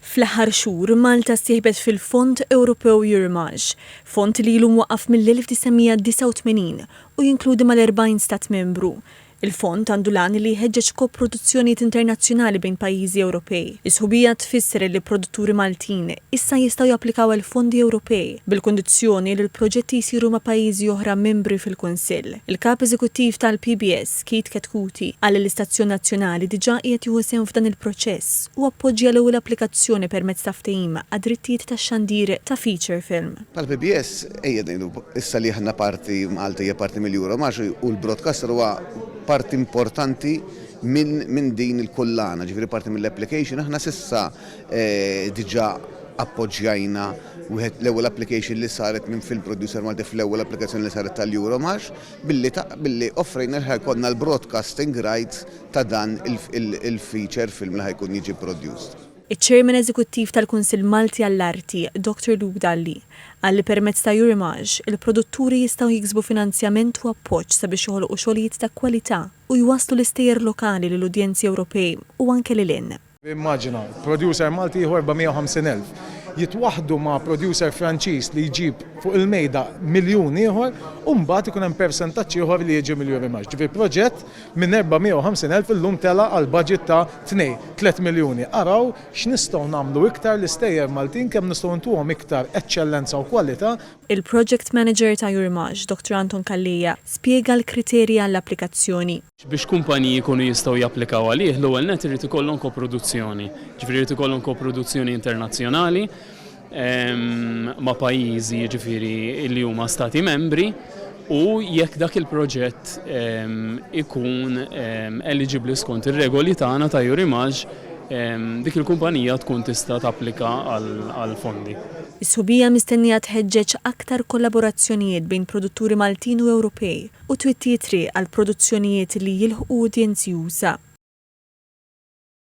Fl-aħħar xhur, Malta ssieħbet fil-Fond Ewropew Euremage, fond li ilu mwaqqaf mill-1989 u jinkludi mal-40 Stat Membru. Il-fond għandu l-għan li jħeġġeġ koproduzzjonijiet internazzjonali bejn pajjiżi Ewropej. Is-sħubija tfisser li produtturi Maltin issa jistgħu japplikaw għal fondi Ewropej, bil-kundizzjoni li l-proġetti jsiru ma' pajjiżi oħra membri fil-Kunsill. Il-Kap Eżekuttiv tal-PBS, Keith Chetcuti qal li l-istazzjon nazzjonali diġà qiegħed jieħu sehem f'dan il-proċess u appoġġja l-ewwel applikazzjoni permezz ta' ftehim għad-drittijiet tax-xandir ta' feature film. Bħall-PBS, ejja ngħidu issa li aħna parti, Malta hija parti mill-Euro Marche u l-broadcaster huwa parti importanti minn din il-kullana, ġifieri parti mill-application. Aħna s'issa diġà appoġġjajna wieħed l-ewwel application li saret minn film producer Malti fl-ewwel applikazzjoni li saret tal-Euro Marche. Billi offrejna li ħa jkollna l-broadcasting rights ta' dan il-feature film li ħa jkun jiġi produced. Iċ-Chairman Eżekuttiv tal-Kunsill Malti għall-Arti, Dr Luke Dalli, qal li permezz ta' Eurimage, il-produtturi jistgħu jiksbu finanzjament u appoġġ sabiex joħolqu xogħlijiet ta' kwalità u jwasslu l-istejjer lokali lill-udjenzi Ewropej u anke lil hinn. Immaġina, producer Malti jieħu 450,000. Jitwaħħdu ma' producer Franċiż li jġib fuq il-mejda miljun ieħor u mbagħad ikun hemm persentaġġ ieħor li jiġi miljun rimax. Ġifieri proġett minn 450,000 illum tela' għal budget ta' tnej, tliet miljuni. Araw x'nistgħu nagħmlu iktar l-istejjer Maltin kemm nistgħu ntuhom iktar eċċellenza u kwalità. Il-Project Manager ta' Jurimax, Dr. Anton Calleja, spjega l-kriterji għall-applikazzjoni. Biex kumpaniji jkunu jistgħu japplikaw għalih, l-ewwel nett irid ikollhom koproduzzjoni, jiġifieri jrid ikollhom koproduzzjoni internazzjonali ma' pajjiżi jiġifieri li huma Stati Membri u jekk dak il-proġett ikun eliġibbli skont ir-regoli tagħna ta' Eurimage, dik il-kumpanija tkun tista' tapplika għall-fondi. Is-sħubija mistennija tħeġġeġ aktar kollaborazzjonijiet bejn produtturi Maltin u Ewropej u twitti t-triq għal produzzjonijiet li jilħqu udjenzi usa'.